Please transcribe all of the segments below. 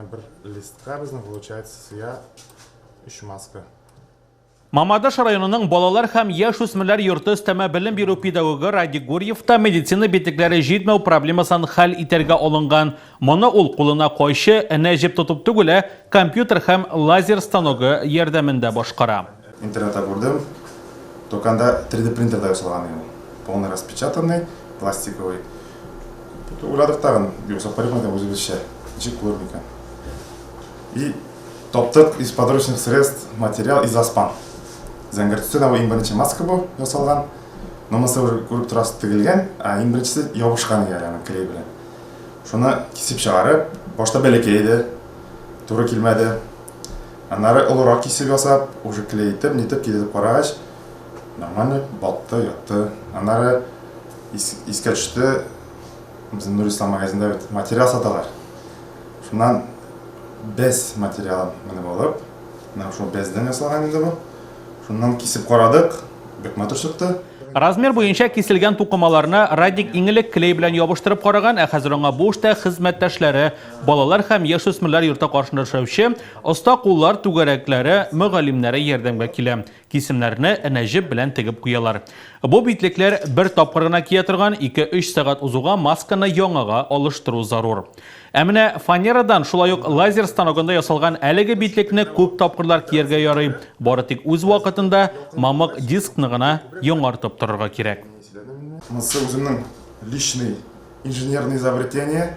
Бер листка безнең получается сыя өч маска. Мамадыш районының балалар һәм яшүсмерләр йорты өстәмә белем бирү педагогы Радик Гурьев та медицина битлекләре җитмәү проблемасын хәл итәргә алынган. Моны ул кулына кайчы, энә җеп тотып түгел, ә компьютер һәм лазер станогы ярдәмендә башкара. Интернетта күрдем, доканда 3D принтерда ясалган иде. Полный распечатанный, пластиковый. Уйладык тагын, ясап карыйк инде үзебезчә. Ничек булыр микән? И таптык из подручных средств материал из аспан. Зәңгәр төстә дә иң беренче маска бу ясалган. Но монысы уже күреп торасыз тегелгән, а иң беренчесе ябышкан иде әле клей белән. Шуны кисеп чыгарып, башта бәләкәй иде, туры килмәде. Аннары олырак кисеп ясап, уже клейтеп, нитеп кидетеп карагач, нормально батты, ятты. Аннары ис, искә төште, безнең Нурислам магазинда бит материал саталар. Шуннан без материалын менеп алып, менә шул бездән ясалган инде бу. Шуннан кисеп карадык, бик матур чыкты. Размер буенча киселгән тукымаларны Радик иң элек клей белән ябыштырып караган, ә хәзер аңа бу эштә хезмәттәшләре Балалар һәм яшүсмерләр йорты каршында эшләүче оста куллар түгәрәкләре мөгаллимнәре ярдәмгә килә. Кисемнәрне энәҗеп белән тегеп куялар. Бу битлекләр бер тапкыр гына кия торган, ике-өч сәгать узуга масканы яңага алыштыру зарур. Ә менә фанерадан, шулай ук лазер станогында ясалган әлеге битлекне күп тапкырлар кияргә ярый, бары тик үз вакытында мамык дискны гына яңартып торырга кирәк. Монысы үземнең личный инженерный изобретение,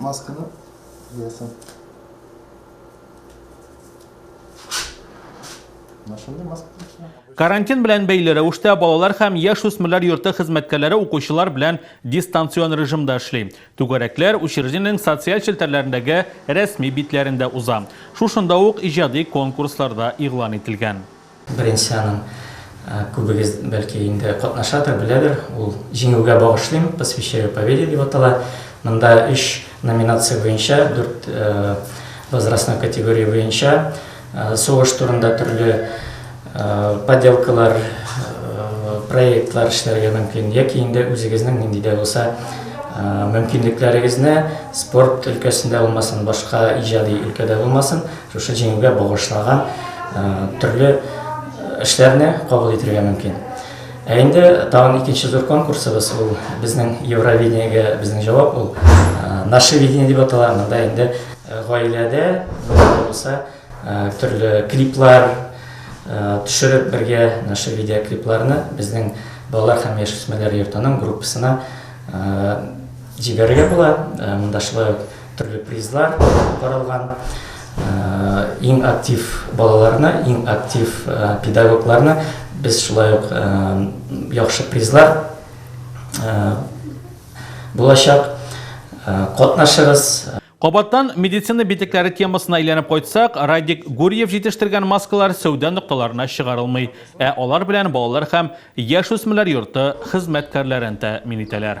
Масканы куясың. Машинада маска куясың. Карантин белән бәйле рәвештә балалар һәм яшүсмерләр йорты хезмәткәрләре укучылар белән дистанцион режимда эшли. Түгәрәкләр учреждениенең социаль челтәрләрендәге рәсми битләрендә уза. Шушында ук иҗади конкурслар да игълан ителгән. Бренсяның күбегез бәлки инде катнашадыр, беләдер, ул Җиңүгә багышлыйм, Посвящаю победе дип атала. Монда өч номинация буенча, дүрт возрастной категория буенча сугыш турында төрле поделкалар, проектлар эшләргә мөмкин, яки инде үзегезнең нинди дә булса мөмкинлекләрегезне, спорт өлкәсендә булмасын, башка иҗади өлкәдә булмасын, Шушы җиңүгә багышлаган төрле эшләрне кабул итергә мөмкин. Ә инде тагын икенче зур конкурсыбыз ул безнең Евровидениегә безнең җавап ул наше видение дип атала. Монда инде гаиләдә булса төрле клиплар төшереп бергә наше видео клипларны безнең балалар һәм яшүсмерләр йортының группасына җибәрергә була. Монда шулай ук Төрле призлар каралган. Иң актив балаларны, иң актив педагогларны без шулай ук яхшы призлар булачак. Катнашыгыз! Кабаттан медицина битекләре темасына әйләнеп кайтсак, Радик Гурьев җитештергән маскалар сәүдә нокталарына чыгарылмый, ә алар белән балалар һәм яшүсмерләр йорты хезмәткәрләрен тәэмин итәләр.